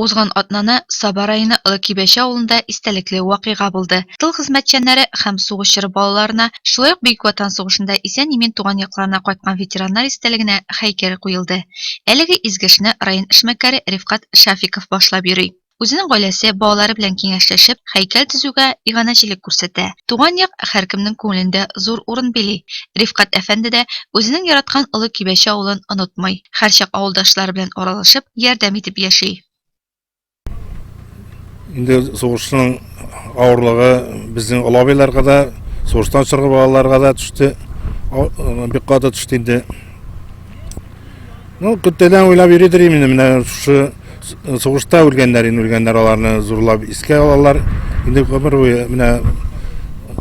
Узган атнаны Саба районы Олы Кибәче авылында истәлекле вакыйга булды. Тыл хезмәтчәннәре һәм сугыш чоры балаларына, шулай ук Бөек Ватан сугышында исән-имин туган якларына кайткан ветераннар истәлегенә һәйкәл куелды. Әлеге изге эшне район эшмәкәре Рифкать Шафиков башлап йөри. Үзенең гаиләсе, балалары белән киңәшләшеп, һәйкәл төзүгә иганәчелек күрсәтә. Туган як һәркемнең күңелендә зур урын били. Рифкать әфәнде дә үзенең яраткан Олы Кибәче авылын онытмый. Һәрчак авылдашлары белән аралашып, ярдәм итеп яши. Инде сугышның авырлыгы безнең олабайларга да, сугыштан чыгып балаларга да төште. Бик каты төште инде. Ну, көттәдән уйлап йөридер инде менә шушы Сугышта үлгәннәр, инде үлгәннәр, аларны зурлап искә алалар. Инде гомер буе менә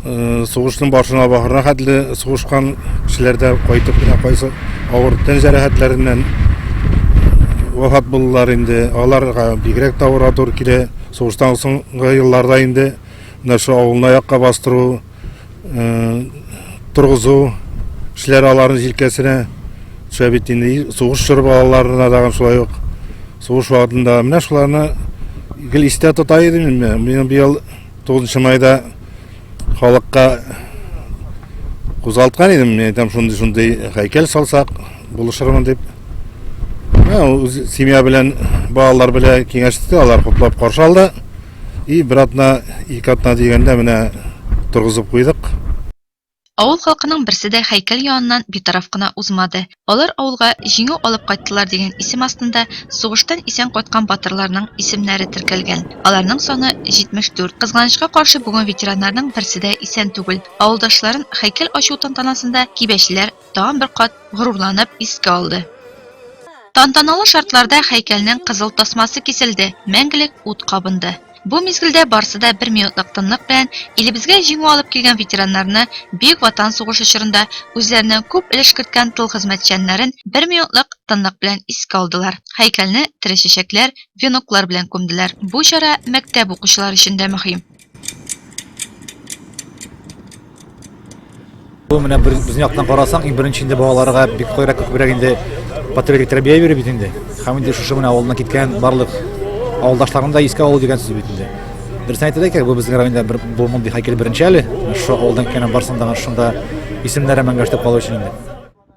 э, сугышның башына бахырына хәтле сугышкан кешеләр дә кайтып менә кайсы авыр тән җәрәхәтләреннән вафат булдылар инде. Аларга бигрәк тә авыр килә. Сугыштан соңгы елларда инде менә шу авылны аякка бастыру торгызу эшләре аларның җилкәсенә төшә бит инде сугыш чоры балаларына тагын шулай ук сугыш вакытында менә шуларны гел истә тота идем инде мин быел тугызынчы майда халыкка кузгалткан идем мин әйтәм шундый шундый һәйкәл салсак булышырмын дип семья белән балалар белән киңәште алар хуплап каршы алды И бер атна, ике атна дигәндә менә торгызып куйдык. Авыл халкының берсе дә һәйкәл яныннан битараф кына узмады. Алар авылга Җиңү алып кайттылар дигән исем астында сугыштан исән кайткан батырларның исемнәре теркәлгән. Аларның саны 74. Кызганычка каршы, бүген ветераннарның берсе дә исән түгел. Авылдашларын һәйкәл ачу тантанасында кибәчеләр тагын бер кат горурланып искә алды. Тантаналы шартларда хәйкәлнең кызыл тасмасы киселде, мәңгелек ут кабынды. Бу мизгелдә барсы да бер минутлык тынлык белән илебезгә җиңү алып килгән ветераннарны, Бөек Ватан сугышы чорында үзләреннән күп өлеш керткән тыл хезмәтчәннәрен бер минутлык тынлык белән искә алдылар, хәйкәлне тере чәчәкләр, веноклар белән күмделәр. Бу чара мәктәп укучылары өчен дә мөһим. Бу менә безнең яктан карасаң, иң беренче инде балаларга бик кайрак күбрәк инде патриотик тәрбия бирү бит инде. Һәм инде шушы менә авылына киткән барлык авылдашларын да искә алу дигән сүз бит инде. Дөресен әйтергә кирәк, бу безнең районда бер бу мондый һәйкәл беренче әле. Шушы авылдан киткән барсын да шунда исемнәре мәңгәштә калу өчен инде.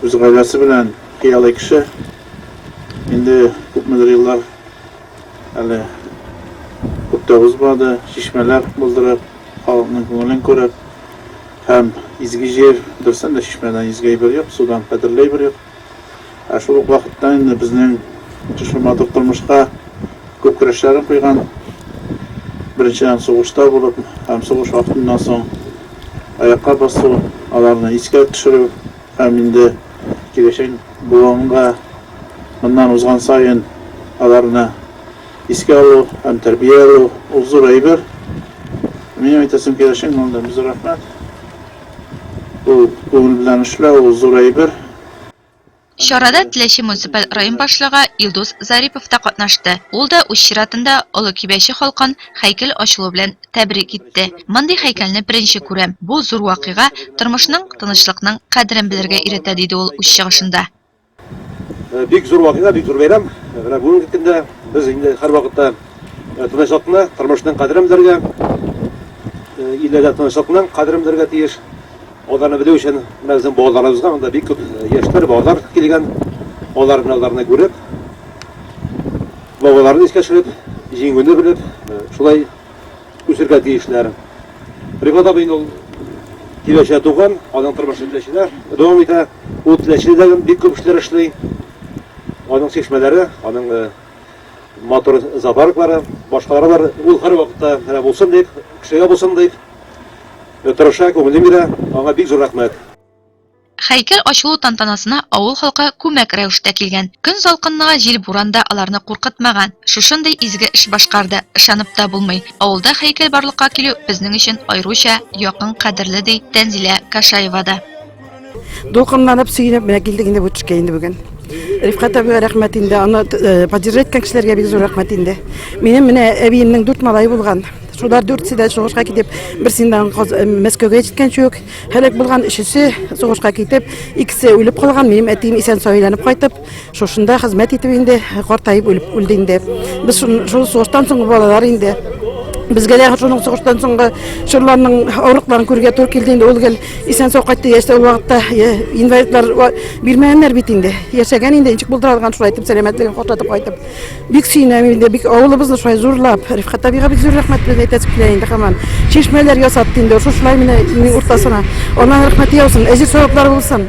Үз гаиләсе белән хыялый кеше. Инде күпмедер еллар әле күп тә узмады, чишмәләр булдырып, халыкның күңелен күреп һәм изге җир, берсен дә чишмәдән изге әйбер юк, судан кадерле әйбер юк. Ә шул ук вакытта инде безнең шушы матур тормышка күп көрәшләрен куйган, беренчедән сугышта булып һәм сугыш вакытыннан соң аякка басу, аларны искә төшерү һәм инде киләчәк буынга моннан узган саен аларны искә алу һәм тәрбия алу, ул зур әйбер. Минем әйтәсем килә, чын күңелдән бик зур рәхмәт. Ул күңел белән эшләү, ул зур әйбер. Чарада Теләче муниципаль район башлыгы Илдус Зарипов та катнашты. Ул да үз чиратында Олы Кибәче халкын һәйкәл ачылу белән тәбрик итте. Мондый һәйкәлне беренче күрәм, бу зур вакыйга тормышның, тынычлыкның кадерен белергә өйрәтә, диде ул үз чыгышында. Бик зур вакыйга, бик зур бәйрәм. Менә бүгенге көндә без инде һәрвакытта тынычлыкны, тормышның кадерен белергә, илдә дә тынычлыкның кадерен белергә тиеш. Аларны белү өчен менә безнең балаларыбызга анда бик күп яшьләр, балалар килгән. Алар менә аларны күреп, бабаларын искә төшереп, җиңүне белеп, шулай үсергә тиешләр. Рифат абый ул Теләчедә туган, аның тормышы Теләчедә дәвам итә. Ул Теләчедә дә бик күп эшләр эшли. Аның чишмәләре, аның матур зоопарклары, башкалары бар. Ул һәрвакытта менә булсын дип, кешегә булсын дип. Тырыша, күңелен бирә, аңа бик зур рәхмәт. Һәйкәл ачылу тантанасына авыл халкы күмәк рәвештә килгән. Көн салкынлыгы, җил-буран да аларны куркытмаган. Шушындый изге эш башкарды, ышанып та булмый. Авылда һәйкәл барлыкка килү безнең өчен аеруча якын, кадерле, ди Тәнзилә Кашаева да. Дулкынланып, сөенеп, менә килдек инде бу төшкә инде бүген. Рифкат әбигә рәхмәт инде, аны э, поддержать иткән кешеләргә бик зур рәхмәт инде. Минем менә әбиемнең дүрт малае булган. Шулар дүртсе дә сугышка китеп, берсеннән э, Мәскәүгә җиткән чүк, һәлак булган, өчесе сугышка китеп, икесе үлеп калган, минем әтием исән сау әйләнеп кайтып, Шушында хезмәт итеп инде картаеп үлеп үлде инде. Без шул сугыштан соңгы балалар инде. Безгә дә шуның сугыштан соңгы чорларның авырлыкларын күрергә туры килде инде. Ул гел исән-сау кайтты. Яшьтә ул вакытта инвалидлар бирмәгәннәр бит инде. Яшәгән инде, ничек булдыра алган шулай итеп сәламәтлеген картатып кайтып. Бик сөенәм инде, бик авылыбызны шулай зурлап, Рифкат абыйга бик зур рәхмәт белән әйтәсем килә инде һаман. Чишмәләр ясатты инде, шушылай менә уртасына. Аллаһ рәхмәте яусын, әҗер саваплары булсын.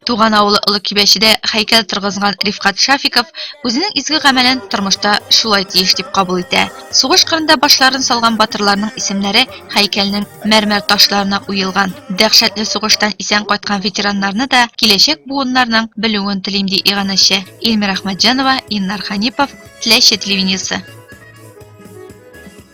Туган авылы Олы Кибәчедә хәйкәл торгызган Рифкат Шафиков үзенең изге гамәлен тормышта шулай тиеш дип кабул итә. Сугыш кырында башларын салган батырларның исемнәре хәйкәлнең мәрмәр ташларына уелган. Дәһшәтле сугыштан исән кайткан ветераннарны да киләчәк буыннарның белүен телим, ди иганәче Илмира Ахмәтҗанова, Иннар Ханипов, Теләче телевидениесе.